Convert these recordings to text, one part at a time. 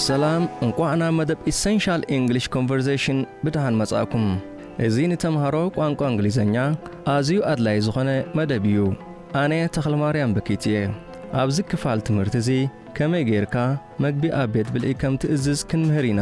ሰላም እንቋዕ ናብ መደብ ኢሰንሻል ኢንግሊሽ ኮንቨርሴሽን ብደሓን መጻእኩም። እዚ ንተምሃሮ ቋንቋ እንግሊዘኛ ኣዝዩ ኣድላዪ ዝኾነ መደብ እዩ። ኣነ ተኽለማርያም በኪት እየ። ኣብዚ ክፋል ትምህርቲ እዚ ከመይ ጌርካ መግቢ ኣብ ቤት ብልዒ ከም ትእዝዝ ክንምህር ኢና።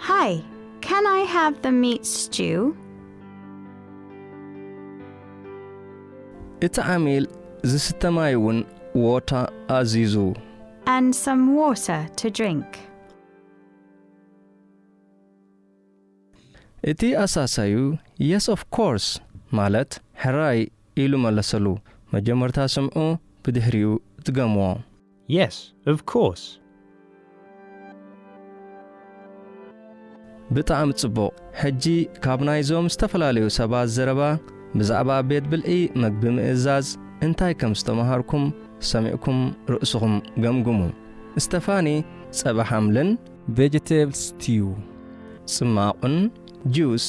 Hi, can I have the meat stew? እቲ ዓሚል ዝስተ ማይ እውን ዎታ ኣዚዙ። And some water to drink. እቲ ኣሳሳዩ የስ ኦፍ ኮርስ ማለት ሕራይ ኢሉ መለሰሉ። መጀመርታ ስምዑ ብድሕሪኡ ድገምዎ። Yes, of course. ብጣዕሚ ጽቡቕ ሕጂ ካብ ናይዞም ዝተፈላለዩ ሰባት ዘረባ ብዛዕባ ቤት ብልዒ መግቢ ምእዛዝ እንታይ ከም ዝተማሃርኩም ሰሚዕኩም ርእስኹም ገምግሙ Stefani ጸባ ሓምልን፣ Vegetables Stew ጽማቝን፣ Juice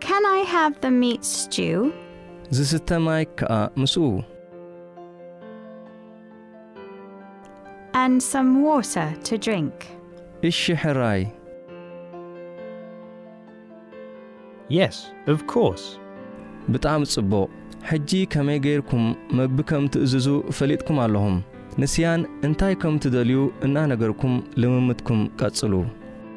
Can I have the meat stew? ዝስተ ማይ ከኣ ምስኡ። And some water to drink. እሺ ሕራይ። Yes, of course. ብጣዕሚ ጽቡቕ። ሕጂ ከመይ ገይርኩም መግቢ ከም ትእዝዙ ፈሊጥኩም ኣለኹም። ንስያን እንታይ ከም ትደልዩ እናነገርኩም ልምምድኩም ቀጽሉ።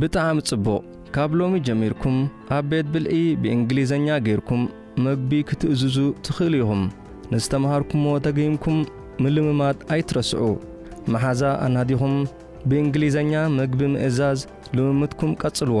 ብጣዕሚ ጽቡቕ ካብ ሎሚ ጀሚርኩም ኣብ ቤት ብልዒ ብእንግሊዘኛ ጌርኩም መግቢ ክትእዝዙ ትኽእሉ ኢኹም ንዝተምሃርኩምዎ ደጊምኩም ምልምማድ ኣይትረስዑ መሓዛ ኣናዲኹም ብእንግሊዘኛ መግቢ ምእዛዝ ልምምድኩም ቀጽልዎ።